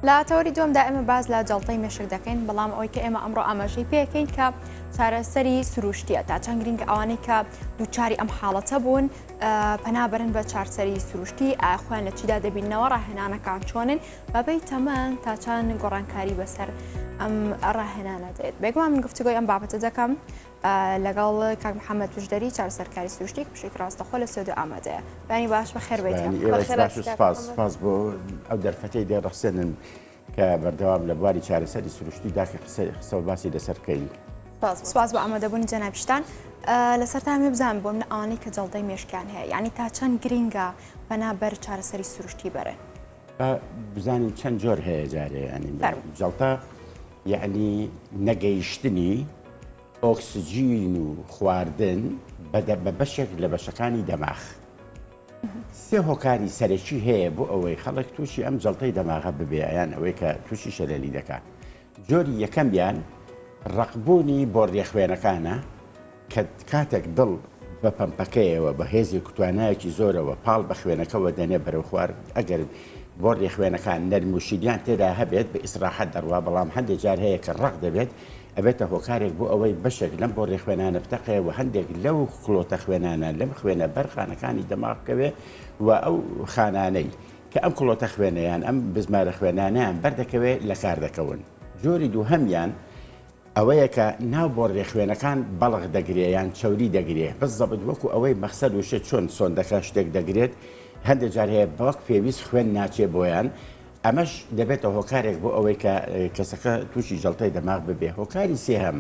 لە تەوەری دومدا ئێمە باز لە جڵتەی مێشک دەکەین بەڵام ئەوی کە ئێمە ئەمڕۆ ئاماژەی پێکەین کە چارەسەری سروشتیە تا چەند گرنگ ئەوانەی کە دووچاری ئەم حاڵەتە بوون پەنابرن بە چارسەری سروشتی ئاخوان لە چیدا دەبینەوە ڕاهێنانەکان چۆنن بەبێ تەمەن تا چەند گۆڕانکاری بەسەر ئەم ڕاهێنانە دێت بێگومان من گفتوگوی ئەم بابەتە دەکەم لەگەڵ کاک محەممەد پشدەری چار سەرکاری سروشتیک پشێک ڕاستەخۆ لە سۆدو ئامادەیە بەنی باش بە خێر بێتپاس بۆ ئەو دەرفەتی دێ ڕەخسێنن کە بەردەوام لە بواری چارەسەری سروشتی داخی قسە قسە و باسی لەسەر بکەین. سواز بە ئامادەبوونی جەنابشتان لەسەر تا مێ بزان بۆ من ئەوانەی کە جەڵدەی مێشکیان هەیە یعنی تا چەند گرینگە بەنابەر چارەسەری سروشتی بەرن. با بزانین چەند جۆر هەیە جارێ ینی جڵتە یعنی نەگەیشتنی ئۆکسجین و خواردن بەدە بە بەشێک لە بەشەکانی دەماخ سێ هۆکاری سەرەکی هەیە بۆ ئەوەی خەڵک تووشی ئەم جڵتەی دەماغە ببێیان ئەوەی کە تووشی شەلەلی دەکات جۆری یەکەمیان ڕەقبوونی بۆڕییە خوێنەکانە کە کاتێک دڵ بە پەمپەکەیەوە بە هێزێک و توانایەکی زۆرەوە پاڵ بە خوێنەکەوە دەنێ بەرەو خوار ئەگەر بۆڕیە خوێنەکان نەرموشیریان تێدا هەبێت بە ئیسراحەت دەڕوا بەڵام هەندێک جار هەیە کە ڕق دەبێت ئەبێتە هۆکارێک بۆ ئەوەی بەشێک لەم بۆ ڕێخوێنانە بتەقەیە و هەندێک لەو کلۆتە خوێنانە لەم خوێنە بەرخانەکانی دەماغکەوێ و ئەو خانانەی کە ئەم کڵۆتە خوێنە یان ئەم بزمارە خوێنانەیان بەر دەکەوێ لە کار دەکەون. جۆری دووهەمیان ئەوەیە کە ناو بۆڕیە خوێنەکان بەڵخ دەگرێ یان چەوری دەگرێ بززەبت وەکوو ئەوەی مەخسەر وشە چۆن سۆندەکە شتێک دەگرێت هەندێ جار هەیە بە وەک پێویست خوێن ناچێ بۆیان ئەمەش دەبێتە هۆکارێک بۆ ئەوەی کە کەسەکە تووشی جەڵتەی دەماغ ببێ هۆکاری سێهەم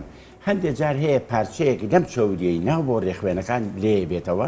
هەندێ جار هەیە پارچەیەک لەم چەوریەی ناو بۆ ڕێخوێنەکان لێ بێتەوە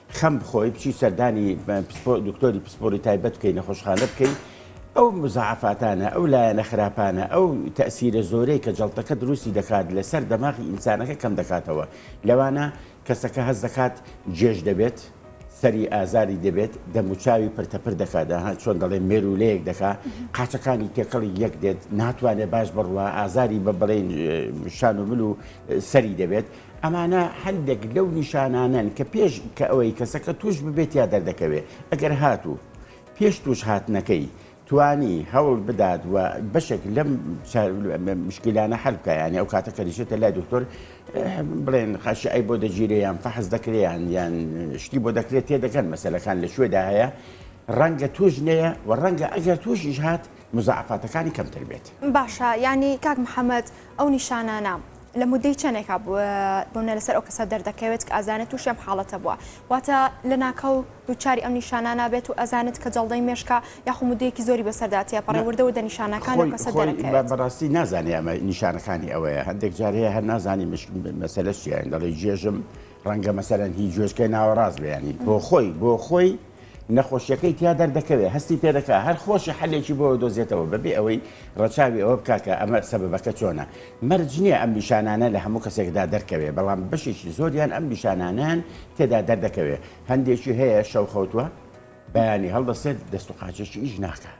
خەم بخۆی بچی سەردانی دکتۆری پسپۆری تایبەت بکەی نەخۆشخانە بکەی ئەو مزعفاتانە ئەو لایەنە خراپانە ئەو تەسیرە زۆرەی کە جڵتەکە دروستی دەکات لەسەر دەماغی ئینسانەکە کەم دەکاتەوە لەوانە کەسەکە هەز دەکات جێش دەبێت سەری ئازاری دەبێت دەموچاوی پرتەپر دەکاتدا ها چۆن دەڵێ مێرولەیەک دەکا قاچەکانی تێکەڵی یەک دێت ناتوانێت باش بڕوە ئازاری بە بڵێن شان و من و سەری دەبێت ئەمانە هەندێک لەو نیشانانەن کە پێش کە ئەوەی کەسەکە تووش ببێت یا دەردەکەوێت ئەگەر هاتوو پێش تووش هاتنەکەی توانی هەوڵ بدات و بەشێک لەم مشکلانە حەلکە یانی ئەو کاتە کەریشێتە لای دکتۆر بڵێن خاشی ئەی بۆ دەگیرێ یان فەحز دەکریان یان شتی بۆ دەکرێت تێ دەکەن مەسلەکان لە شوێدا هەیە ڕەنگە توش نەیە و ڕەنگە ئەگەر توشیش هات مزعفاتەکانی کەمتر بێت باشە ینی کاک محەممەد ئەو نیشانانە لە مودەی چەنێکا بونە لەسەر ئەو کەسە دەردەکەوێت کە ئازانێت تووشی ئەم حاڵەتە بووە واتە لە ناکاو دووچاری ئەم نیشانە نابێت و ئەزانێت کە جەڵدەی مێشکا یاخو مدەیەکی زۆری بەسەردا تێ پەڕێ وردەوە دە نیشانەکان لە کەسە دەرەکەوێت بەڕاستی نازانێ ئەمە نیشانەکانی ئەوەیە هەندێک جار هەیە هەر نازانی مەسەلە چیان دەڵێ جێژم ڕەنگە مەسەرەن هی جۆشکە ناوەڕاست بەیانی بۆ خۆی بۆ خۆی نەخۆشیەکەی تیا دەردەکەوێت هەستی پێدەکات هەر خۆشی حەلێکی بۆ دۆزێتەوە بەبێ ئەوەی ڕەچاوی ئەوە بکات کە ئەمە سەبەبەکە چۆنە مەرج نییە ئەم نیشانانە لە هەموو کەسێکدا دەرکەوێت بەڵام بەشێکی زۆریان ئەم نیشانانەیان تێدا دەردەکەوێت هەندێکی هەیە شەوخەوتووە بەیانی هەڵدەسێت دەست و قاچێکی ئیش ناکات.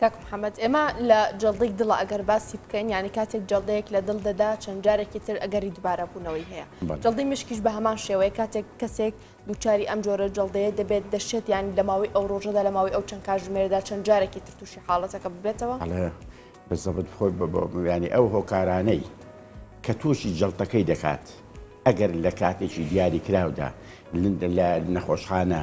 کاک محمد ئێمە لە جەڵدەی دڵە ئەگەر باسی بکەین یعنی کاتێک جەڵدەیەک لە دڵ دەدا چەند جارێکی تر ئەگەری دوبارە بوونەوەی هەیە جەڵدەی مشکیش بە هەمان شێوەیە کاتێک کەسێک دووچاری ئەم جۆرە جەڵدەیە دەبێت دەشێت یانی لە ماوەی ئەو ڕۆژەدا لە ماوەی ئەو چەند کاژمێردا چەند جارێکی تر تووشی حاڵەتەکە ببێتەوە بەزەبت خۆی ینی ئەو هۆکارانەی کە تووشی جەڵتەکەی دەکات ئەگەر لە کاتێکی دیاری کراودا لە نەخۆشخانە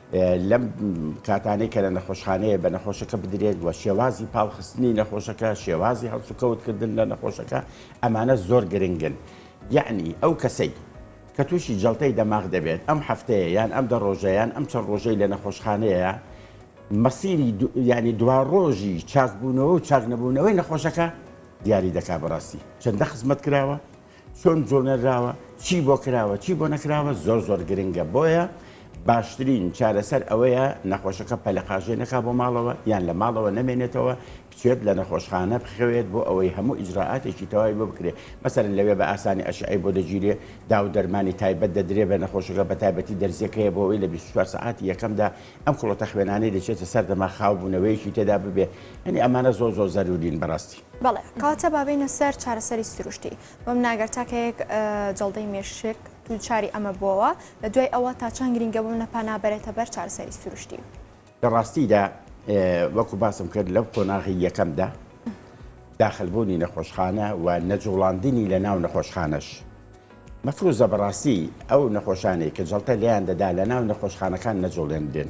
لەم کاتانەی کە لە نەخۆشخانەیە بە نەخۆشەکە بدرێت و شێوازی پاڵخستنی نەخۆشەکە شێوازی هەڵسوکەوتکردن لە نەخۆشەکە ئەمانە زۆر گرنگن یعنی ئەو کەسەی کە تووشی جڵتەی دەماغ دەبێت ئەم هەفتەیە یان ئەم دە ڕۆژەیان ئەم چەند ڕۆژەی لە نەخۆشخانەیە مەسیری ینی دوا ڕۆژی چاکبوونەوە و چاکنەبوونەوەی نەخۆشەکە دیاری دەکا بەڕاستی چەندە خزمەت کراوە چۆن جوڵێنراوە چی بۆ کراوە چی بۆ نەکراوە زۆر زۆر گرنگە بۆیە باشترین چارەسەر ئەوەیە نەخۆشەکە پەلەقاژێ نەکا بۆ ماڵەوە یان لە ماڵەوە نەمێنێتەوە بچێت لە نەخۆشخانە بخەوێت بۆ ئەوەی هەموو ئیجرراعاتێکی تەواوی بۆ بکرێت مەسەرن لەوێ بە ئاسانی ئەشعی بۆ دەگیرێ داو دەرمانی تایبەت دەدرێ بە نەخۆشەکە بە تایبەتی دەرزیەکەیە بۆ ئەوەی لە 24 سعاتی یەکەمدا ئەم کوڵەتە خوێنانەی دەچێتە سەر دەما خاو بوونەوەیەکی تێدا ببێ ئەنی ئەمانە زۆ زۆ زەرورین بەڕاستی. بەڵێ کەواتە با بێینە سەر چارەسەری سروشتی بەم ناگەر تاکەیەک جەڵدەی مێشک دووچاری ئەمە بووەوە لە دوای ئەوە تا چەند گرنگە بوو نە پەنابەرێتە بەر چارەسەری سروشتی. لە ڕاستیدا وەکو باسم کرد لەو قۆناغی یەکەمدا داخلبوونی نەخۆشخانە و نەجوڵاندنی لە ناو نەخۆشخانەش مەفروزە بەڕاستی ئەو نەخۆشانەی کە جەڵتە لێیان دەدا لە ناو نەخۆشخانەکان نەجوڵێنرێن.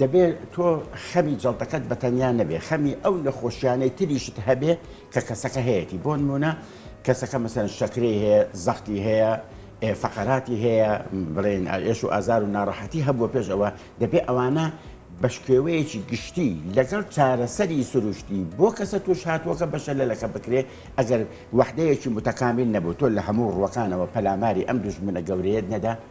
دەبێ تۆ خەمی جەڵتەکەت بە تەنیا نەبێ خەمی ئەو نەخۆشیانەی تریشت هەبێ کە کەسەکە هەیەی بۆ نمونە کەسەکە مەسەن شەکری هەیە زەختی هەیە فەقەراتی هەیە بڵێن ئێش و ئازار و ناڕەحەتی هەبووە پێش ئەوە دەبێ ئەوانە بەشکێوەیەکی گشتی لەگەڵ چارەسەری سروشتی بۆ کەسە توش هاتووەکە بەشە لەلەکە بکرێ ئەگەر وەحدەیەکی متەکامیل نەبوو تۆ لە هەموو ڕوەکانەوە پەلاماری ئەم دوژمنە گەورەیەت نەدا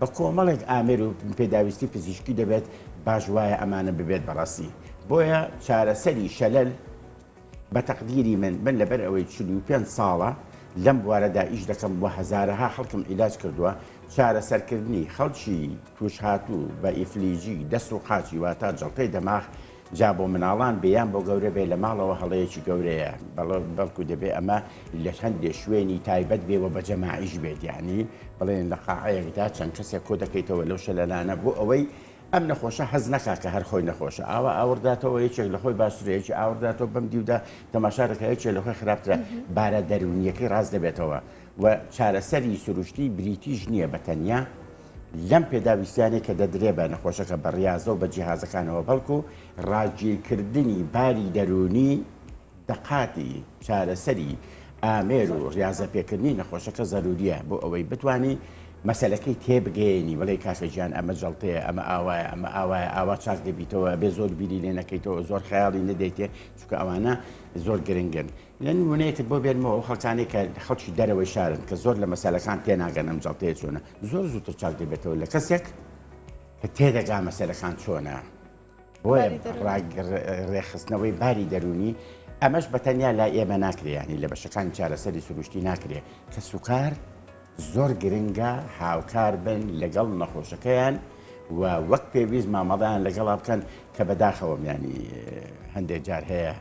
بە کۆمەڵێک ئامێر و پێداویستی پزیشکی دەبێت باش وایە ئەمانە ببێت بە ڕەستی بۆیە چارەسەری شەلەل بە تەقدیری من من لەبەر ئەوەی چل و پێنج ساڵە لەم بوارەدا ئیش دەکەم و هەزارەها خەڵکم عیلاج کردووە چارەسەرکردنی خەڵکی تووشهاتوو بە ئیفلیجی دەست و قاچی واتا جەڵتەی دەماغ جا بۆ مناڵان بێ یان بۆ گەورە بێ لە ماڵەوە هەڵەیەکی گەورەیە بەڵکو دەبێ ئەمە لە هەندێ شوێنی تایبەت بێ و بە جەماعیش بێت یانی بڵێن لە قاعەیەکدا چەند کەسێک کۆ دەکەیتەوە لەو شەلەلانە بۆ ئەوەی ئەم نەخۆشە حەز نەکا کە هەر خۆی نەخۆشە ئاوا ئاورداتەوە یەکێک لە خۆی باسرەیەکی ئاورداتەوە بەم دیودا تەماشا دەکەێکێ لە خۆی خراپترە بارە دەرونیەکەی ڕاست دەبێتەوە و چارەسەری سروشتی بریتیش نییە بە تەنیا لەم پێداویستیانەی کە دەدرێ بە نەخۆشەکە بە ڕیازە و بە جیهازەکانەوە بەڵکو ڕاگیرکردنی باری دەروونی دەقاتی چارەسەری ئامێر و ڕاضە پێکردنی نەخۆشەکە زەروریە بۆ ئەوەی بتانی مەسلەکەی تێبگەێنی بڵێ کاکەجیان ئەمە جڵتەیە ئەمە ئاوایە ئەمە ئاوایە ئاوا چاک دەبیتەوە بێ زۆر بیری لێ نەکەیتەوە زۆر خیاڵی نەدەیتێ چکە ئەوانە زۆر گرنگن لەن وونەیەکت بۆ بێنمەوە خەڵکانی کە خەڵکی دەرەوەی شارن کە زۆر لە مەسلەکان تێناگەن ئەم جڵتەیە چۆنە زۆر زووتر چاک دەبێتەوە لە کەسێک کە تێدەگا مەسەرەکان چۆنە بۆیە ڕێخستنەوەی باری دەرونی ئەمەش بەتەنیا لا ئێمە ناکرێیانی لە بەشەکان چارەسەری سروشتی ناکرێ کە سوکار زۆر گرنگە هاوکار بن لەگەڵ نەخۆشەکەیان و وەک پێویست مامەڵیان لەگەڵا بکەن کە بەداخەوەمیانی هەندێک جار هەیە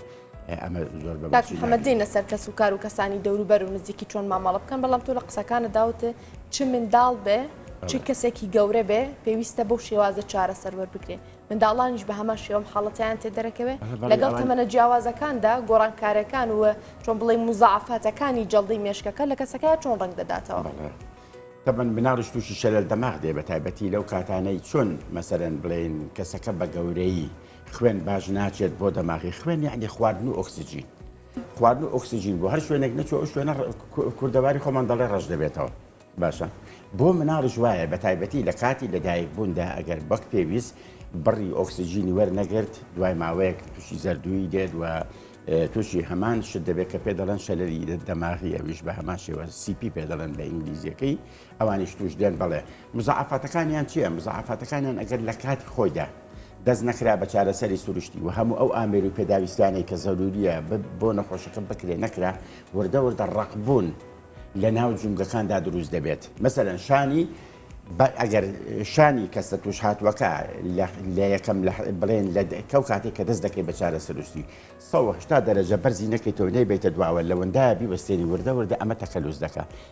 کاک محەمەد دێین لەسەر کەس و کار و کەسانی دەوروبەر و نزیکی چۆن مامەڵە بکەن بەڵام تۆ لە قسەکانە داوتێ چ منداڵ بێ چ کەسێکی گەورە بێ پێویستە بەو شێوازە چارە سەروەر بکرێ منداڵانیش بە هەمان شێوەم حاڵەتیان تێ دەرەکەوێ لەگەڵ تەمەنە جیاوازەکاندا گۆڕانکارەکان و چۆن بڵێ مزعافاتەکانی جەڵدەی مێشکەکە لە کەسەکە چۆن ڕنگ دەداتەوە. تەبەن بناڕش تووشی شەلەل دەماغ دێ بە تایبەتی لەو کاتانەی چۆن مەسەرەن بڵێن کەسەکە بە گەورەی خوێن باش ناچێت بۆ دەماغی خوێن یعنی خواردن و ئۆکسسیجین خواردن و ئۆکسسیجین بۆ هەر شوێنێک نەچۆ ئەو شوێنە کوردەواری خۆمان دەڵێ ڕەش دەبێتەوە باشە بۆ مناڵش وایە بە تایبەتی لە کاتی لەدایک بووندا ئەگەر بەک پێویست بڕی ئۆکسسیجینی وەرنەگرت دوای ماوەیەک تووشی زەردووی دێت و تووشی هەمان شت دەبێت کە پێ دەڵەن شەلەری دەماغی ئەویش بە هەمان شێوە سیپی پێ دەڵەن بە ئینگلیزیەکەی ئەوانیش توش دێن بەڵێ. مزاعەفاتەکانیان چیە؟ مزاعەفاتەکانیان ئەگەر لە کاتی خۆیدا دەست نەکرا بە چارەسەری سروشتی و هەموو ئەو ئامێر و پێداویستیانەی کە زەروریە بۆ نەخۆشەکە بکرێ نەکرا وردە وردە ڕەقبوون لە ناو جومگەکاندا دروست دەبێت مەسەرەن شانی ئەگەر شانی کەسە توش هاتووەکە لە یەکەم بڵێن لە کەو کاتێک کە دەست دەکەی بە چارە سروشتی سەهشتا دەرەجە بەرزی نەکەیتەوە نەیبێتە دواوە لەوەندایە بیوەستێنی وردە وردە ئەمە تەکەلوس دەکە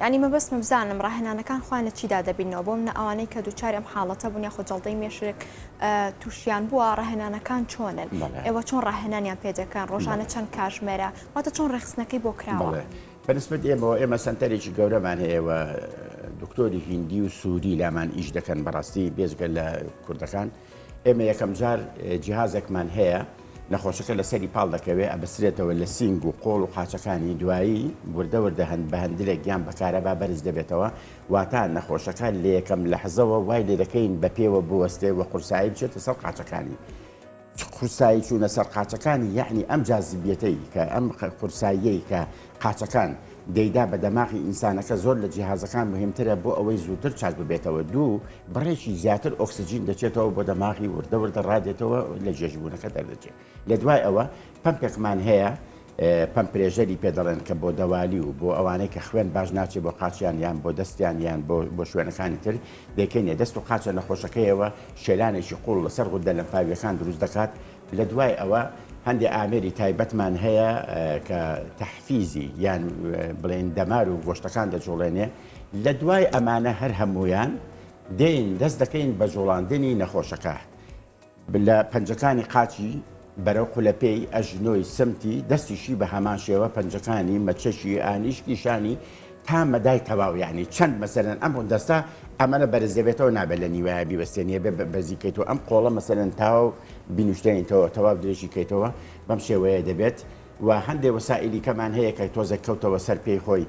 یانی مەبەستمە بزانم ڕاهێنانەکان خۆیان لە چیدا دەبینەوە بۆ منە ئەوانەی کە دووچاری ئەم حاڵەتە بوون یاخۆ جەڵدەی مێشک تووشیان بووە ڕاهێنانەکان چۆنن ئێوە چۆن ڕاهێنانیان پێدەکەن ڕۆژانە چەند کاژمێرە واتە چۆن ڕێخستنەکەی بۆ کراوە بەنسبت ئێمەوە ئێمە سەنتەرێکی گەورەمان هەیەوە دکتۆری هندی و سووری لامان ئیش دەکەن بەڕاستی بێزگە لە کوردەکان. ئێمە یەکەم جار جیهازێکمان هەیە نەخۆشەکە لەسەری پاڵ دەکەوێت ئەبسرێتەوە لە سینگ و قۆڵ و قاچەکانی دوایی وردە وردە هەند بە هەندێک گیان بەکارەبا بەرز دەبێتەوە واتا نەخۆشەکە لە یەکەم لە حەزەوە وای لێ دەکەین بە پێوە بوەستێ و قورسایی بچێتە سەر قاچەکانی. قورسایی چوونە سەر قاچەکانی یعنی ئەم جازبیەتەی کە ئەم قورساییەی کە قاچەکان، دەیدا بە دەماغی ئینسانەکە زۆر لە جیهازەکان مهمترە بۆ ئەوەی زووتر چاک ببێتەوە دوو، بڕێکی زیاتر ئۆکسجین دەچێتەوە بۆ دەماغی وردە وردە ڕادێتەوە لە گێژبوونەکە دەردەچێ لە دوای ئەوە پەمپێکمان هەیە پەمپرێژەری پێ دەڵێن کە بۆ دەوالی و بۆ ئەوانەی کە خوێن باش ناچێ بۆ قاچیان یان بۆ دەستیان یان بۆ بۆ شوێنەکانی تر دەکەینێ دەست و قاچە نەخۆشەکەیەوە شێلانێکی قوڵ لەسەر غودە لەمفاویەکان دروست دەکات لە دوای ئەوە هەندێ ئامێری تایبەتمان هەیە کە تەحفیزی یان بڵێن دەمار و گۆشتەکان دەجوڵێنێ لە دوای ئەمانە هەر هەمویان دێن دەست دەکەین بە جوڵاندنی نەخۆشەکە لە پەنجەکانی قاچی بەرەو قولەپێی ئەژنۆی سمتی دەستیشی بە هەمان شێوە پەنجەکانی مەچەشی ئانیشکیشانی تا مەدای تەواو یانی چەند مەسەلەن ئەم دەستە ئەمەە بەرز دەبێتەوە نابێت لە نیوایە بیوەستێنیە بێ بەزی کەیتەوە ئەم قۆڵە مەسەلەن تاو بینوشتێنیتەوە تەواو درێژی کەیتەوە بەم شێوەیە دەبێت و هەندێ وەسائلی کەمان هەیە کە تۆزە کەوتەوە سەر پێی خۆی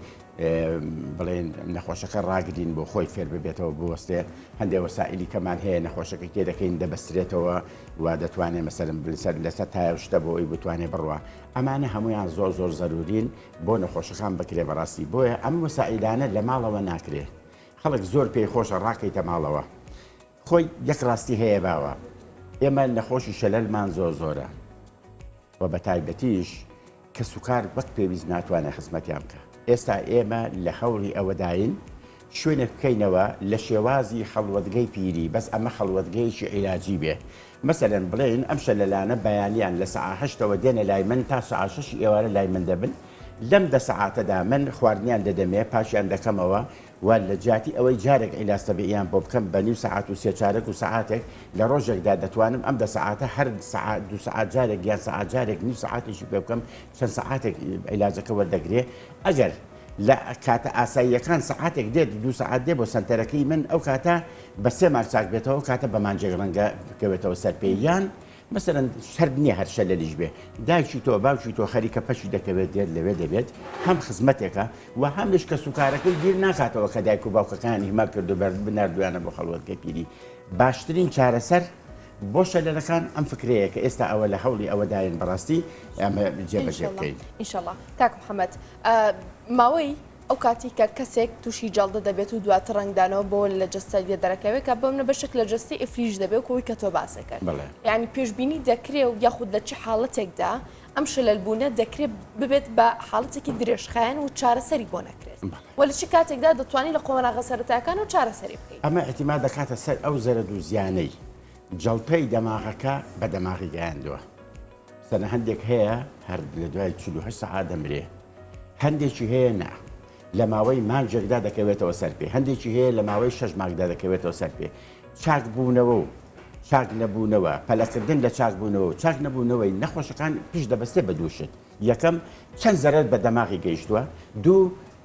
بڵێن نەخۆشەکە ڕاگرین بۆ خۆی فێر ببێتەوە بوەستێ هەندێ وەسائلی کەمان هەیە نەخۆشەکە کێ دەکەین دەبەسترێتەوە و دەتوانێت مەسەرم بلسەر لەسەر تایشتە بۆ ئەوی بتوانێت بڕوە ئەمانە هەمویان زۆر زۆر زەرورین بۆ نەخۆشەکان بکرێ بەڕاستی بۆیە ئەم وەسائیلانە لە ماڵەوە ناکرێ خەڵک زۆر پێی خۆشە ڕاکەیتە ماڵەوە خۆی یەک ڕاستی هەیە باوە ئێمە نەخۆشی شەلەلمان زۆر زۆرە و بە تایبەتیش کە سوکار وەک پێویست ناتوانێت خزمەتیان بکە ئێستا ئێمە لە هەوڵی ئەوەداین شوێنێک بکەینەوە لە شێوازی خەڵوەتگەی پیری بەس ئەمە خەڵوەتگەیەکی عیلاجی بێ مەسەلەن بڵێین ئەم شەلەلانە بەیانیان لە سەعا هەشتەوە دێنە لای من تا سەعا شەشی ئێوارە لای من دەبن لەم دە سەعاتەدا من خواردنیان دەدەمێ پاشیان دەکەمەوە و لە جیاتی ئەوەی جارێک عیلاج تەبیعیان بۆ بکەم بە نیو سەعات و سێ چارەک و سەعاتێک لە ڕۆژێکدا دەتوانم ئەم دە سەعاتە هەر سەعا دوو سەعات جارێک یان سەعا جارێک نیو سەعاتێکی پێ بکەم چەند سەعاتێک عیلاجەکە وەردەگرێ ئەگەر لە کاتە ئاساییەکان سەعاتێک دێت دوو سەعات دێ بۆ سەنتەرەکەی من ئەو کاتە بە سێ ماک چاک بێتەوە ئەو کاتە بە مانجێک ڕەنگە بکەوێتەوە سەر پێ یان مەسەرەن سرد نییە هەرشە لە لیش بێ دایکی تۆ باوکی تۆ خەریکە پەچی دەکەوێت دێت لەوێ دەبێت هەم خزمەتێکە و هەمیش کە سوکارەکەی بیر ناکاتەوە کە دایک و باوکەکانی هیما کردو بەر بناردویانە بۆ خەڵوەتگە پیری باشترین چارەسەر بۆ شەلەرەکان ئەم فکرەیە کە ئێستا ئەوە لە هەوڵی ئەوەداین بەڕاستی ئەمە جێبەجێ بکەین ئیشەڵا کاک محەممەد ماوەی ئەو کاتی کە کەسێک تووشی جەڵدە دەبێت و دواتر ڕنگدانەوە بۆ لە جەستەگە دەرەکەوێت کە بەم نە بەشێک لە جەستی ئفلیج دەبێت و کۆی کە تۆ باسەکەن ینی پێشببینی دەکرێ و یاخود لە چ حاڵەتێکدا ئەم شەلەلبوونە دەکرێت ببێت بە حاڵەتێکی درێژخایەن و چارەسەری بۆ نەکرێت و لە چ کاتێکدا دەتوانانی لە قۆناغە سەرەتاکان و چارەسەری بکەیت ئەمە ئەتیما دەکاتە سەر ئەو زەرەد و زیانەی جەڵتەی دەماغەکە بە دەماغی گەیاندووە. سەرە هەندێک هەیە هەر لە دوای چ هە سەعات دەمرێ هەندێکی هەیە نا لە ماوەی مانجێکدا دەکەوێتەوە سەر پێ هەندێکی هەیە لە ماوەی شەش ماکدا دەکەوێتەوە سەر پێ چاک بوونەوە و چاک نەبوونەوە پەلەکردن لە چاک بوونەوە و چاک نەبوونەوەی نەخۆشەکان پیش دەبەستێ بە دووشت یەکەم چەند زەرەر بە دەماغی گەیشتووە دوو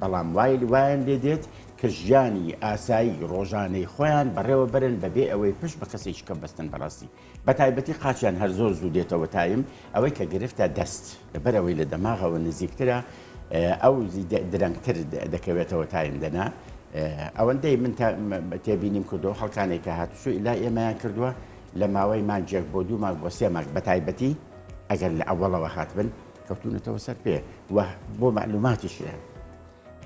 بەڵام وایل وایان لێ دێت کە ژیانی ئاسایی ڕۆژانەی خۆیان بەڕێوە بەرن بە بێ ئەوەی پشت بە کەسێکی کەم بەستن بەڕاستی بە تایبەتی قاچیان هەر زۆر زوو دێتەوە تایم ئەوەی کە گرفتە دەست لەبەر ئەوەی لە دەماغەوە نزیکترە ئەو درەنگتر دەکەوێتەوە تایم دەنا ئەوەندەی من تێبینیم کردو خەڵکانێک کە هاتوچوو لا ئێمەیان کردووە لە ماوەی مانجێک بۆ دوو ماک بۆ سێ ماک بە تایبەتی ئەگەر لە ئەوڵەوە هاتبن کەوتونەتەوە سەر پێ وە بۆ مەعلوماتیشێ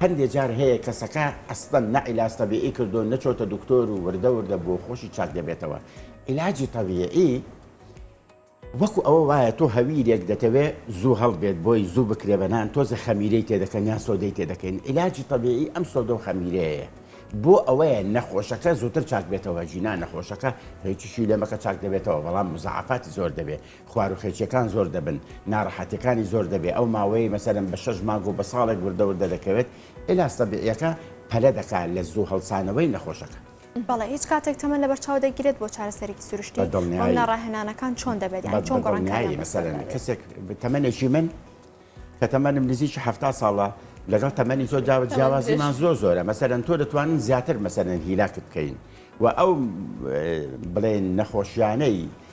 هەندێ جار هەیە کەسەکە ئەسڵەن نە عیلاج تەبیعی کردۆ نەچۆتە دکتۆر و وردە وردە بۆ خۆشی چاک دەبێتەوە عیلاجی تەبیعی وەکو ئەوە وایە تۆ هەویرێک دەتەوێ زوو هەڵبێت بۆی زوو بکرێ بە نان تۆزە خەمیرەی تێدەکەن یان سۆدەی تێدەکەین عیلاجی تەبیعی ئەم سۆدە و خەمیرەیە بۆ ئەوەیە نەخۆشەکە زووتر چاک بێتەوە جینا نەخۆشەکە هیچیشی لێمەکە چاک دەبێتەوە بەڵام مزعفاتی زۆر دەبێت خواروخێچیەکان زۆر دەبن ناڕەحەتیەکانی زۆر دەبێ ئەو ماوەیەی مەسەلەن بە شەش مانگ و بە ساڵێک وردە وردە دەکەوێت ئیلاج تەبیعیەکە پەلە دەکا لە زوو هەڵسانەوەی نەخۆشەکە. بەڵێ هیچ کاتێک تەمەن لەبەر چاو دەگیرێت بۆ چارەسەرێکی سروشتی؟ بە دڵنیایی. ئەو ناڕاهێنانەکان چۆن دەبێت یانی چۆن گۆڕانکاریان بەسەردا دەبێت؟ بە دڵنیایی مەسەلەن کەسێک تەمەنێکی من کە تەمەنم نزیکی حەفتا ساڵە لەگەڵ تەمەنی تۆ جا جیاوازیمان زۆر زۆرە مەسەلەن تۆ دەتوانین زیاتر مەسەلەن هیلاکت بکەین و ئەو بڵێن نەخۆشیانەی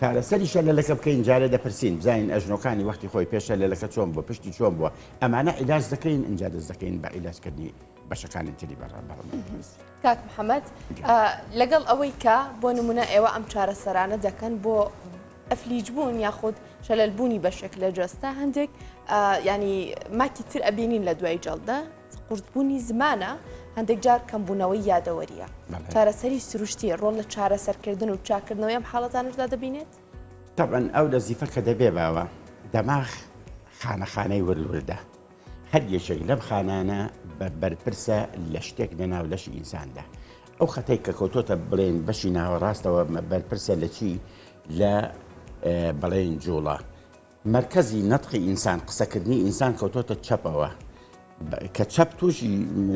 چارەسەری شەلەلەکە بکەین جارێ دەپرسین بزانین ئەژنۆکانی وەختی خۆی پێش شەلەلەکە چۆن بووە پشتی چۆن بووە ئەمانە عیلاج دەکەین ئینجا دەست دەکەین بە عیلاجکردنی بەشەکانی تری بەڕە بەڕەمەندپزیشکی. کاک محەمەد لەگەڵ ئەوەی کە بۆ نمونە ئێوە ئەم چارەسەرانە دەکەن بۆ ئەفلیج بوون یاخود شەلەل بوونی بەشێک لە جەستە هەندێک ینی ماکی تر ئەبینین لە دوای جەڵدە قورسبوونی زمانە، هەندێک جار کەمبوونەوەی یادەوەرییە. چارەسەری سروشتی، ڕۆڵ لە چارەسەرکردن و چاککردنەوەی ئەم حاڵەتانەشدا دەبینێت؟ تەبعەن ئەو لەزیفە کە دەبێ باوە، دەماغ خانە خانەی ورد وردە، هەر یەکێک لەم خانانە بە بەرپرسە لە شتێک لە ناو لەشی ئینساندا. ئەو خەتەی کە کەوتۆتە بڵێن بەشی ناوەڕاستەوە بەرپرسە لە چی؟ لە بڵێن جووڵە. مەرکەزی نەتقی ئینسان، قسەکردنی ئینسان کەوتۆتە چەپەوە، کە چەپ تووشی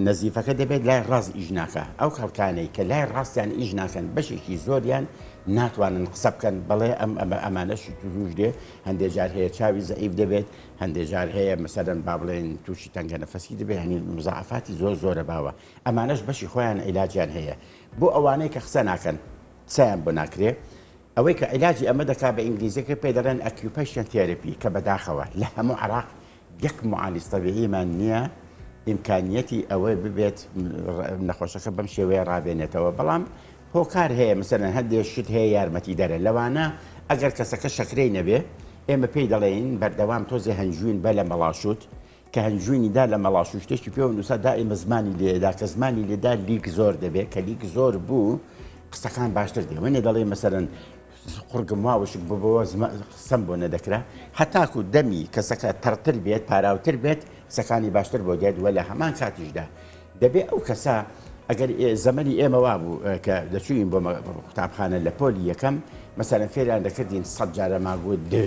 نەزیفەکە دەبێت لای ڕاست ئیش ناکە ئەو خەڵکانەی کە لای ڕاستیان ئیش ناکەن بەشێکی زۆریان ناتوانن قسە بکەن بەڵێ ئەم ئەمە ئەمانەشی تووش دێ هەندێک جار هەیە چاوی زەعیف دەبێت هەندێک جار هەیە مەسەرەن با بڵێن تووشی تەنگە نەفەسی دەبێت هەنی مزعفاتی زۆر زۆرە باوە ئەمانەش بەشی خۆیان عیلاجیان هەیە بۆ ئەوانەی کە قسە ناکەن قسەیان بۆ ناکرێ. ئەوەی کە عیلاجی ئەمە دەکا بە ئینگلیزیەکەی پێی دەڵێن ئەکیوپەیشن تێرەپی کە بەداخەوە لە هەموو عەراق یەک معالج طبیعیمان نییە ئیمکانیەتی ئەوەی ببێت نەخۆشەکە بەم شێوەیە ڕابێنێتەوە بەڵام هۆکار هەیە مەسەرەن هەندێک شت هەیە یارمەتی دەرە لەوانە ئەگەر کەسەکە شەکرەی نەبێ ئێمە پێی دەڵێین بەردەوام تۆزێ هەنجوین بە لە مەڵاشوت کە هەنجوینی دا لە مەڵاش و شتێکی پێوە نووسا دائیمە زمانی لێدا کە زمانی لێدا لیک زۆر دەبێت کە لیک زۆر بوو قسەکان باشتر دێ وێنێ دەڵێ مەسەرەن قڕگم واوشک ببەوە قسەم بۆ نەدەکرا هەتاکو دەمی کەسەکە تەڕتر بێت پاراوتر بێت قسەکانی باشتر بۆ دێت وە لە هەمان کاتیشدا دەبێ ئەو کەسە ئەگەر زەمەنی ئێمە وا بوو کە دەچوین بۆ قوتابخانە لە پۆلی یەکەم مەسەرەن فێریان دەکردین سەد جارە ماگووت دێ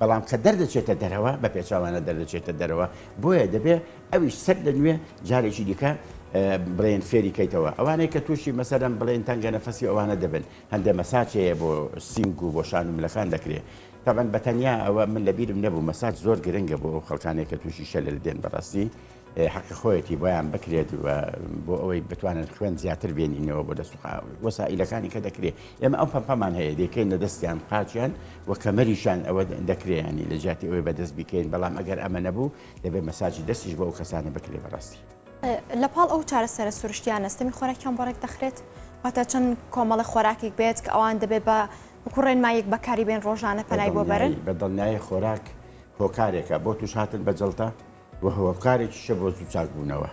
بەڵام کە دەردەچێتە دەرەوە بە پێچەوانە دەردەچێتە دەرەوە بۆیە دەبێت ئەویش سەر لە نوێ جارێکی دیکە بڵێن فێری کەیتەوە ئەوانەی کە تووشی مەسەرم بڵێن تەنگە نەفەسی ئەوانە دەبن هەندێ مەساچەیە بۆ سینگ و بۆ شان و ملەکان دەکرێت تاەن بەتەنیا ئەوە من لەبیرم نەبوو مەساج زۆر گرنگە بۆ ئەو خەڵکانێک کە تووشی شەلل دێن بەڕاستی حەقی خۆیەتی بۆیان بکرێت و بۆ ئەوەی بتوانن خوێن زیاتر بێنینەوە بۆ دەست وەسائلەکانی کە دەکرێت ئێمە ئەو پەمپەمان هەیە دەکەین لە دەستیان قاچیان و کەمەریشان ئەوە دەکرێیانی لە جیاتی ئەوەی بەدەست بکەین بەڵام ئەگەر ئەمە نەبوو دەبێت مەساجی دەستیش بۆ ئەو کەسانە بکرێ بەڕاستی لە پاڵ ئەو چارەسەرە سروشتیان نستەمی خۆراکیان بۆ ڕێک دەخرێت واتە چەند کۆمەڵە خۆراکێک بێت کە ئەوان دەبێت بە بکوڕێن مایەک بەکاری بێن ڕۆژانە پەلای بۆ بەرن بە دڵنیای خۆراک هۆکارێکە بۆ توش هاتن بە جڵتە و هۆکارێکیشە بۆ زوو چاکبوونەوە.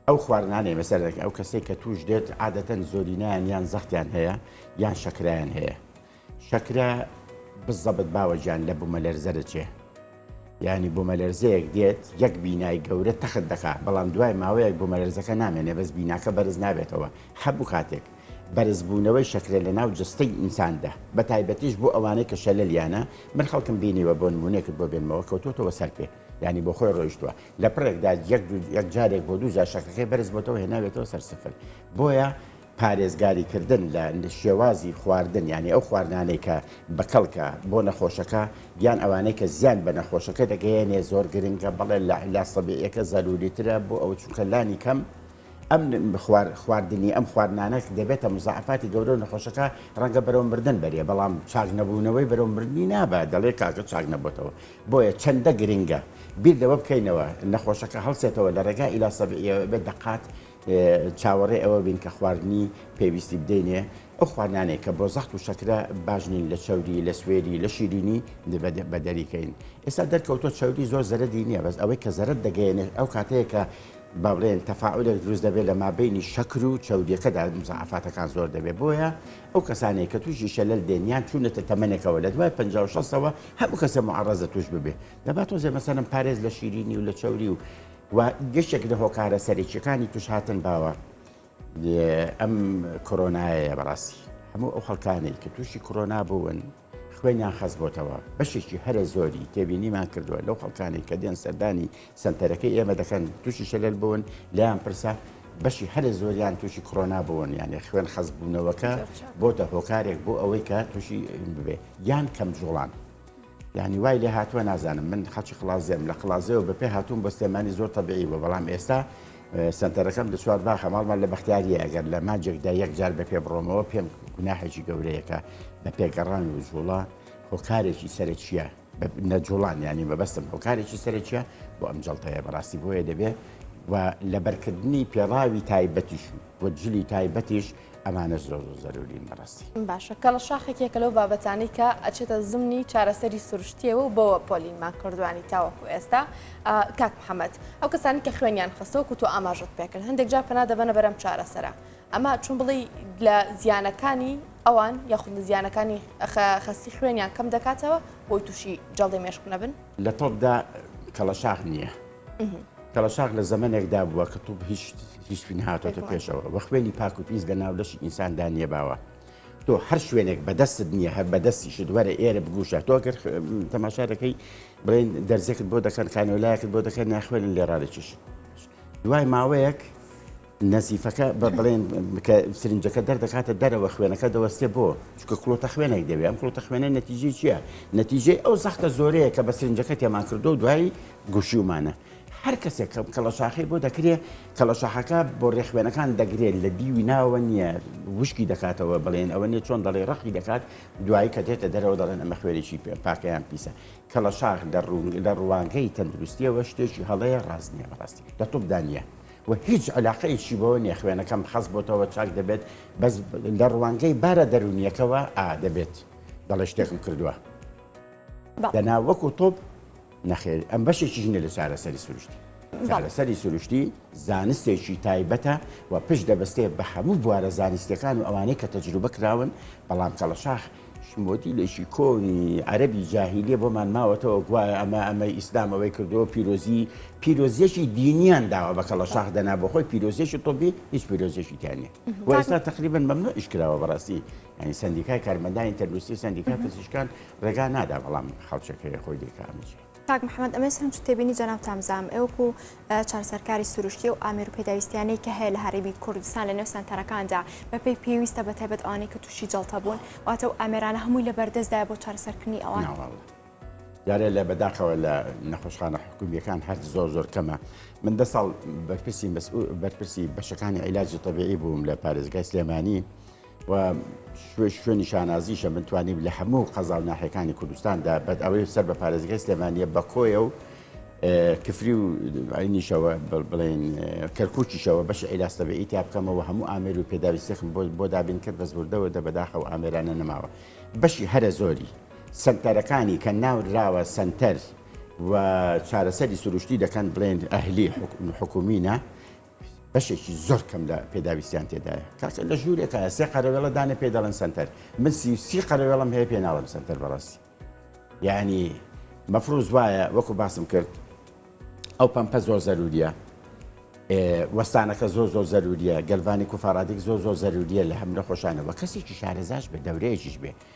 ئەو خواردنانەی بەسەر دەکە ئەو کەسێک کە توش دێت عادەتەن زۆرینیان یان زەختیان هەیە یان شەکرایان هەیە شەکرە بزەبت باوەجان لە بوومە لەرزەرچێ ینی بۆ مەلەرزەیەک دێت یەک بینای گەورە تەخت دەکات بەڵام دوای ماوەیەک بۆ مەلەرزەکە نامێنێ بەس بیناکە بەرز نابێتەوە هەبوو کاتێک بەرزبوونەوەی شەکرە لە ناو جەستەی ئینساندا بە تایبەتیش بۆ ئەوانەی کە شەلەلیانە من خەڵکم بینیوە بۆ نمونەێکت بۆ بێنمەوە کەوتوتەوە سەر پێ ینی بۆ خۆی ڕۆیشتووە لە پرێکدا یەک یەک جارێک بۆ دوو جار شەکرەکەی بەرز بۆتەوە هێناوێتەوە سەر سفر بۆیە پارێزگاریکردن لە شێوازی خواردن ینی ئەو خواردانەی کە بەکەڵکە بۆ نەخۆشەکە یان ئەوانەی کە زیان بە نەخۆشەکە دەگەیەنێ زۆر گرنگە بەڵێ لە علا سەبیەکە زەروریترە بۆ ئەو چونکە لانی کەم ئەم خوار خواردنی ئەم خواردنانە کە دەبێتە مزعفاتی گەورە و نەخۆشەکە ڕەنگە بەرەو مردن بەرێ بەڵام چاک نەبوونەوەی بەرەو مردنی نابە دەڵێ کاکە چاک نەبتەوە بۆیە چەندە گرنگە بیر لەوە بکەینەوە نەخۆشەکە هەڵسێتەوە لە ڕێگا ئیلا سەبعیەوە بێت دەقات چاوەڕێ ئەوە بین کە خواردنی پێویستی بدەینێ ئەو خوانانێک کە بۆ زەخت و شەکرە باژنین لە چەوری لە سوێری لە شیرینی بە دەریکەین ئێستا دەرکەوتۆ چەوری زۆر زەرەدی نییە بەس ئەوەی کە زەرت دەگەێنێت ئەو کاتەیە کە با بڵێین تەفاعولێک دروست دەبێت لە مابەینی شەکر و چەوریەکەدا مزەعەفاتەکان زۆر دەبێت بۆیە ئەو کەسانەیە کە تووشی شەلەل دێن یان چوونەتە تەمەنێکەوە لە دوای 56ەوە هەموو کەسە معڕەزە توش ببێ دەبات تۆزێ مەسەرم پارێز لە شیرینی و لە چەوری و و گەشتێک لە هۆکارە سەرێکیەکانی توش هاتن باوە ئەم کۆرۆنایە بەڕاستی هەموو ئەو خەڵکانێک کە تووشی کۆرۆنا بوون خوێنیان خەستبۆتەوە، بەشێکی هەرە زۆری تێبینیمان کردووە لەو خەڵکانەی کە دێن سەردانی سەنتەرەکەی ئێمە دەکەن تووشی شەلەل بوون لێیان پرسە بەشی هەرە زۆریان تووشی کڕۆنا بوون یانێ خوێن خەزبوونەوەکە بۆتە هۆکارێک بۆ ئەوەی کە تووشی ببێ یان کەم جوڵان. ینی وای لێ هاتووە نازانم من خەچی خلاازێم لە قلازەوە بە پێ هاتووم بە سلێمانی زۆر تەبیعی بە بەڵام ئێستا سەنتەرەکەم لە چوار باخە ماڵمان لە بەختیاریە ئەگەر لە مانجێکدا یەک جار بە پێ بڕۆمەوە پێم گوناحێکی گەورەیەکە بە پێگەڕان و جوڵا هۆکارێکی سەرەکیە نەجوڵان ینی مەبەستم هۆکارێکی سەرەکیە بۆ ئەم جڵتەیە بەڕاستی بۆیە دەبێت و لەبەرکردنی پێڕاوی تایبەتیش و جلی تایبەتیش ئەمانەش زۆر زۆر زەرورین بەڕاستی. باشە کەڵە شاخێک یەکە لەو بابەتانەی کە ئەچێتە زمنی چارەسەری سروشتیەوە و بەوە پۆلینمان کردوانی تاوەکو ئێستا کاک محەممەد ئەو کەسانی کە خوێنیان خستەوە کو تۆ ئاماژت پێکرد هەندێک جا پنا دەبەنە بەرەم چارەسەرە ئەمە چون بڵی لە زیانەکانی ئەوان یاخود لە زیانەکانی خەستی خوێنیان کەم دەکاتەوە بۆی تووشی جەڵی مێشک نەبن لە تۆپدا کەڵە شاخ نییە. تەڵەساغ لە زەمەنێکدا بووە کە توپ هیچ هیچی نهاتۆتە پێشەوە وە خوێنی پاک و پیس لە ناو لەشی ئینساندا نیەباوە تۆ هەر شوێنێک بەدەستت نییە هەر بەدەستیشت وەرە ئێرە بگوشە تۆ گەر تەماشا دەکەی بڵێن دەرزێکت بۆ دەکەن خانەوەلایەکت بۆ دەکەن ناخوێنن لێ ڕادەکیش دوای ماوەیەک نەزیفەکە بە بڵێن کە سرنجەکە دەردەکاتە دەرەوە خوێنەکە دەوەستێ بۆ چکە کڵۆتە خوێنێک دەوێ ئەم کڵۆتە خوێنە نەتیجی چییە نەتیجەی ئەو زەختە زۆرەیە کە بە سرنجەکە تێمان کردو و دوایی گوشیومانە هەر کەسێک کەم کەڵەشاخی بۆ دەکرێت کەڵەشاخەکە بۆ ڕێخوێنەکان دەگرێت لە دیوی ناوە نییە وشکی دەکاتەوە بڵێن ئەوە نیە چۆن دەڵێ ڕەخی دەکات دوایی کە دێتە دەرەوە دەڵێن ئەمە خوێنێکی پێ پاکەیان پیسە کەڵەشاخ لە ڕوانگەی تەندروستیەوە شتێکی هەڵەیە ڕاست نیە بەڕاستی لە تۆپدانە و هیچ علاقەیەکی بەوە نیە خوێنەکەم خەست بۆتەوە چاک دەبێت بەس لە ڕوانگەی بارە دەرونیەکەوە ئا دەبێت دەڵێ شتێکم کردووە دەنا وەکو تۆپ نەخێر ئەم بەشێکی ژنە لە چارەسەری سروشتی چارەسەری سروشتی زانستێکی تایبەتە و پشت دەبستێ بە هەموو بوارە زانستەکان و ئەوانەی کە تەجروبە کراون بەڵام کەڵەشاخ مۆدیلێکی کۆنی عەرەبی جاهیلیە بۆمان ماوەتەوە گوایە ئەمە ئەمەی ئیسلام ئەوەی کردەوە پیرۆزی پیرۆزیەکی دینیان داوە بە کەڵە شاخ دەنا بۆ خۆی پیرۆزیێکی تۆبی هیچ پیرۆزیێکی تیانە و ئێستا تقریبن مەمنوع ئیشکراوە بەڕاستی ینی سندیکای کارمەندانی تەندروستی سندیکا پزیشکان ڕێگا نادا بەڵام خەڵچەکەی خۆی دەکامچی کاک محمد ئەمەی سەرنج و تێبینی جەنابتان بزانم ئێوە کو چارەسەرکاری سروشتی و ئامێر و پێداویستیانەی کە هەیە لە هەرێمی کوردستان لە نێو سەنتەرەکاندا بەپێی پێویستە بە تایبەت ئەوانەی کە تووشی جەڵتە بوون واتە و ئامێرانە هەمووی لە بەردەستدایە بۆ چارەسەرکردنی ئەوان ناوەڵڵا جارێ لە بەداخەوە لە نەخۆشخانە حکومیەکان هەر زۆر زۆر کەمە من دە ساڵ بەرپرسی مەسئول بەرپرسی بەشەکانی عیلاجی طبیعی بووم لە پارێزگای سلێمانی و شوێنی شانازیشە من توانیم لە هەموو قەزا و ناحەکانی کوردستاندا بەد ئەوەی سەر بە پارێزگای سلێمانە بە کۆیە و کفری و عینیشەوە بڵێن کەرکوچیشەوە بەش عیلاستەبێ ئیتیا بکەمەوە هەموو ئامێر و پێداویستێکم بۆ بۆ دابین کرد بەس بردەوە دە بەداخە و ئامێرانە نەماوە بەشی هەرە زۆری سنتەرەکانی کە ناوراوە سنتەر و چارەسەری سروشتی دەکەن بڵێن ئەهلی حکومینە بەشێکی زۆر کەم لە پێداویستیان تێدایە کاکە لە ژوورێکە سێ قەرەوێڵە دانە پێ دەڵێن سنتەر من سی سی قەرەوێڵم هەیە پێ ناڵم سنتەر بەڕاستی یعنی مەفروز وایە وەکو باسم کرد ئەو پەمپە زۆر زەروریە وەستانەکە زۆ زۆ زەروریە گەلوانی کوفاڕادێک زۆ زۆ زەروریە لە هەم نەخۆشانەوە کەسێکی شارەزاش بە دەورەیەکیش بێ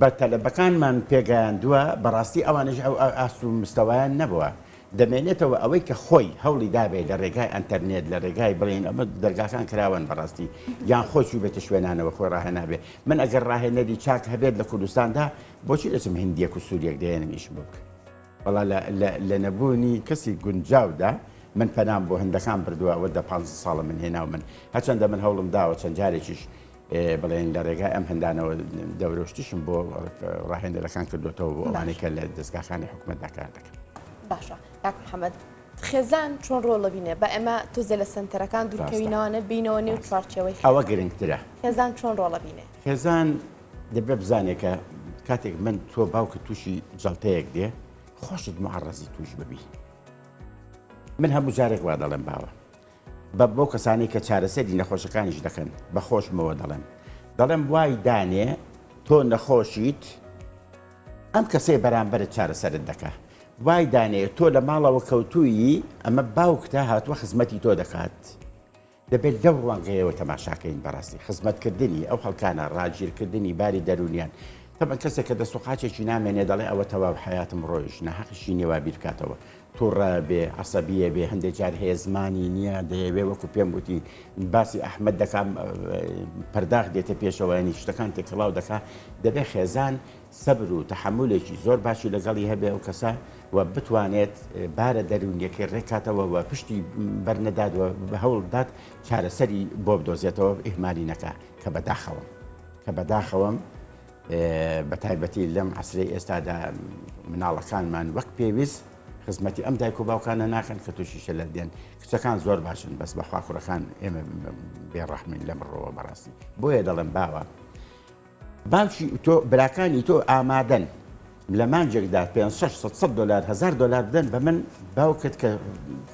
بە تەلەبەکانمان پێگەیاندووە، بەڕاستی ئەوانیش ئەو ئاست و مستەوایان نەبووە، دەمێنێتەوە ئەوەی کە خۆی هەوڵی دابێ لە رێگای ئەنتەرنێت لە رێگای بڵێین ئەمە دەرگاکان کراوەن بەڕاستی یان خۆی چووبێتە شوێنانەوە خۆی راهێنابێ، من ئەگەر راهێنەری چاک هەبێت لە کوردستاندا بۆچی دەچم هندییەک و سوورییەک دەهێنم ئیشم بۆ بکەن؟ وەڵا لە نەبوونی کەسی گونجاودا من پەنام بۆ هندەکان بردووە ئەوە دە پانزە ساڵە من هێناومن، هەرچەندە من هەوڵم داوە چەند جارێکیش بڵێن لە ڕێگای ئەم هەندانەوە دەورۆشتیشم بۆ ڕاهێنەرەکان کردوێتەوە بۆ ئەوانەی کە لە دەستگاخانی حکوومەتدا کار دەکەن باشە کاک محەممەد خێزان چۆن ڕۆڵە بینێ بە ئەمە تۆزێ لە سنتەرەکان دوورکەوینەوەە بینەوە نێو چوارچەوەی ئەوە گرنگترە خێزان چۆن ڕۆڵە بینێ خێزان دەبێ بزانێکە کاتێک من تۆ باوکە تووشی جڵتەیەک دێ خۆشت معڕزی توش ببی من هەموو جارێک وا دەڵێم باوە بە بەو کەسانەی کە چارەسەری نەخۆشەکانیش دەکەن بە خۆشمەوە دەڵێم دەڵێم وای دانێ تۆ نەخۆشیت ئەم کەسەی بەرامبەرت چارەسەرت دەکە وای دانێ تۆ لە ماڵەوە کەوتوویی ئەمە باوکتە هاتووە خزمەتی تۆ دەکات دەبێت لەو ڕوانگەیەوە تەماشاکەین بەڕاستی خزمەتکردنی ئەو خەڵکانە ڕاگیرکردنی باری دەرونیان تەبەن کەسێک کە دەسوقاچێکی نامێنێ دەڵێ ئەوە تەواو حیاتم ڕۆیش نەحەقیشی نێوا بیرکاتەوە توڕە بێ عەسەبیە بێ هەندێ جار هەیە زمانی نییە دەیەوێ وەکو پێم وتی باسی ئەحمد دەکا پەرداخ دێتە پێشەوە ینی شتەکان تێکەڵاو دەکا دەبێ خێزان سەبر و تحملێکی زۆر باشی لەگەڵی هەبێ ئەو کەسە و بتوانێت بارە دەروونیەکەی ڕێکاتەوە و پشتی بەرنەداد و بە هەوڵدات چارەسەری بۆ بدۆزێتەوە ئیهمالی نەکە کە بەداخەوەم کە بەداخەوەم بە تایبەتی لەم عسرەی ئێستادا مناڵەکانمان وەک پێویست خزمەتی ئەم دایک و باوکانە ناکەن کە تووشی شەلەر دێن کچەکان زۆر باشن بەس بە خواخورەکان ئێمە بێڕەحمین لە بڕەوە بەڕاستی بۆیە دەڵێم باوە باشی تۆ براکانی تۆ ئامادەن لە مانجێکدا 500 دلار هزار دلار بدەن بە من باوکت کە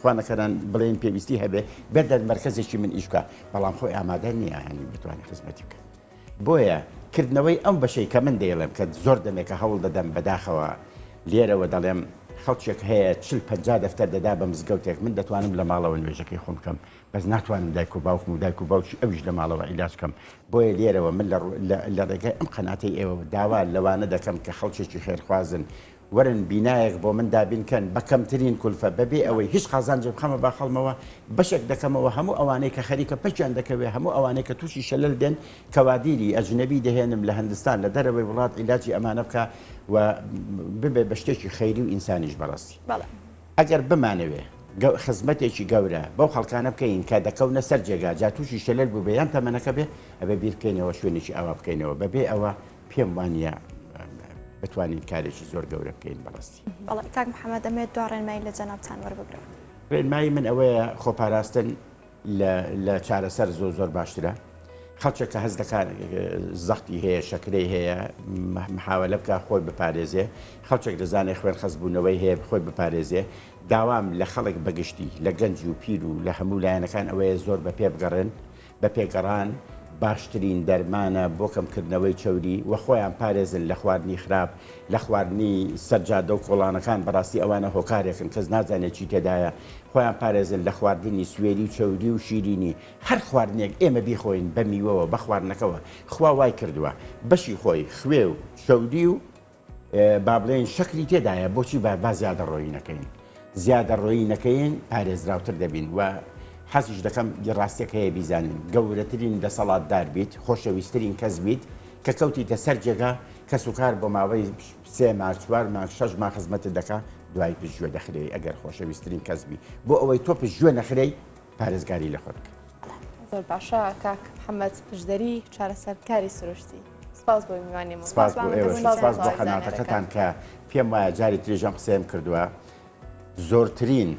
خوانەکەران بڵێن پێویستی هەبێ بێت دەرمەرکزێکی من ئیشکە بەڵام خۆی ئامادە نییە هەنی بتوانانی خزمەتی بکە بۆیە کردنەوەی ئەم بەشەی کە من دەیڵێم کە زۆر دەمێکە هەوڵ دەدەم بەداخەوە لێرەوە دەڵێم خەڵکێک هەیە چل پەنجا دەفتەر دەدا بە مزگەوتێک من دەتوانم لە ماڵەوە نوێژەکەی خۆم بکەم بەس ناتوانم دایک و باوکم و دایک و باوکی ئەویش لە ماڵەوە عیلاج بکەم بۆیە لێرەوە من لە ڕێگەی ئەم قەناتەی ئێوە داوا لەوانە دەکەم کە خەڵکێکی خێرخوازن وەرن بینایەک بۆ من دابین کەن بە کەمترین کولفە بەبێ ئەوەی هیچ قازانجێ بخەمە باخەڵمەوە بەشێک دەکەمەوە هەموو ئەوانەی کە خەریکە پەکیان دەکەوێ هەموو ئەوانەی کە تووشی شەلەل دێن کەوادیری ئەجنەبی دەهێنم لە هەندستان لە دەرەوەی وڵات عیلاجی ئەمانە بکا و ببێ بە شتێکی خەیری و ئینسانیش بەڕاستی ئەگەر بمانەوێ خزمەتێکی گەورە بەو خەڵکانە بکەین کە دەکەونە سەر جێگا جا تووشی شەلەل بووبێ یان تەمەنەکە بێ ئەبێ بیرکەینەوە شوێنێکی ئاوا بکەینەوە بەبێ ئەوە پێم وانە بتوانین کارێکی زۆر گەورە بکەین بەڕستی بەڵ کاک محەممەد ئەمێت دو ڕێنمایی لە جەنابان وەربگرن ڕێنمایی من ئەوەیە خۆپاراستن لە چارەسەر زۆ زۆر باشترە خەڵچێک کە هەز دەکات زەختی هەیە شەکرەی هەیە محاولە بکە خۆی بپارێزێ خەڵچێک دەزانێت خوێن خەزبوونەوەی هەیە خۆی بپارێزێ داوام لە خەڵک بەگشتی لە گەنج و پیر و لە هەموو لایەنەکان ئەوەیە زۆر بە پێ بگەڕێن بە پێ گەڕان باشترین دەرمانە بۆ کەمکردنەوەی چەوری وە خۆیان پارێزن لە خواردنی خراپ لە خواردنی سەر جادە و کۆڵانەکان بەڕاستی ئەوانە هۆکارێکن کەس نازانێت چی تێدایە خۆیان پارێزن لە خواردنی سوێری و چەوری و شیرینی هەر خواردنێک ئێمە بیخۆین بە میوەوە بە خواردنەکەوە خوا وای کردووە بەشی خۆی خوێ و چەوری و با بڵێین شەکری تێدایە بۆچی با با زیادە ڕۆیی نەکەین زیادە ڕۆیی نەکەین پارێزراوتر دەبین و حەزیش دەکەم ڕاستێک هەیە بیزانین گەورەترین دەسەڵاتدار بیت خۆشەویستترین کەس بیت کە کەوتیتە سەر جێگا کەس و کار بۆ ماوەی سێ مار چوار مار شەش ما خزمەتت دەکا دوای پشتگوێ دەخرێی ئەگەر خۆشەویستترین کەس بی بۆ ئەوەی تۆ پشتگوێ نەخرەی پارێزگاری لە خۆ دەکەین. زۆر باشە کاک محەممەد پشدەری چارەسەرکاری سروشتی سپاس بۆ میوانی من سپاس بۆ ئێوە سپاس بۆ قەناتەکەتان کە پێم وایە جاری تریش ئەم قسەیەم کردووە زۆرترین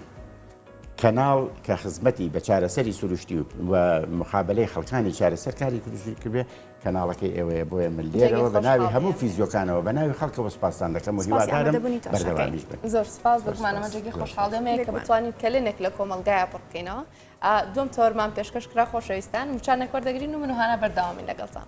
کەناڵ کە خزمەتی بە چارەسەری سروشتی و مخابلەی خەڵکانی چارەسەرکاری کردوشی کردێ کەناڵەکەی ئێوەیە بۆیە من لێرەوە بە ناوی هەموو فیزیۆکانەوە بە ناوی خەڵکەوە سوپاستان دەکەم و هیوادارم بەردەوامیش بن زۆر سوپاس بۆ گومانەمە جێگەی خۆشحاڵ دەمەیە کە بتوانین کەلێنێک لە کۆمەلگایە پڕ بکەینەوە دوم تۆرمان پێشکەش کرا خۆشەویستان وچان نەکۆر دەگرین و من و هانا بەردەوامی لەگەڵتان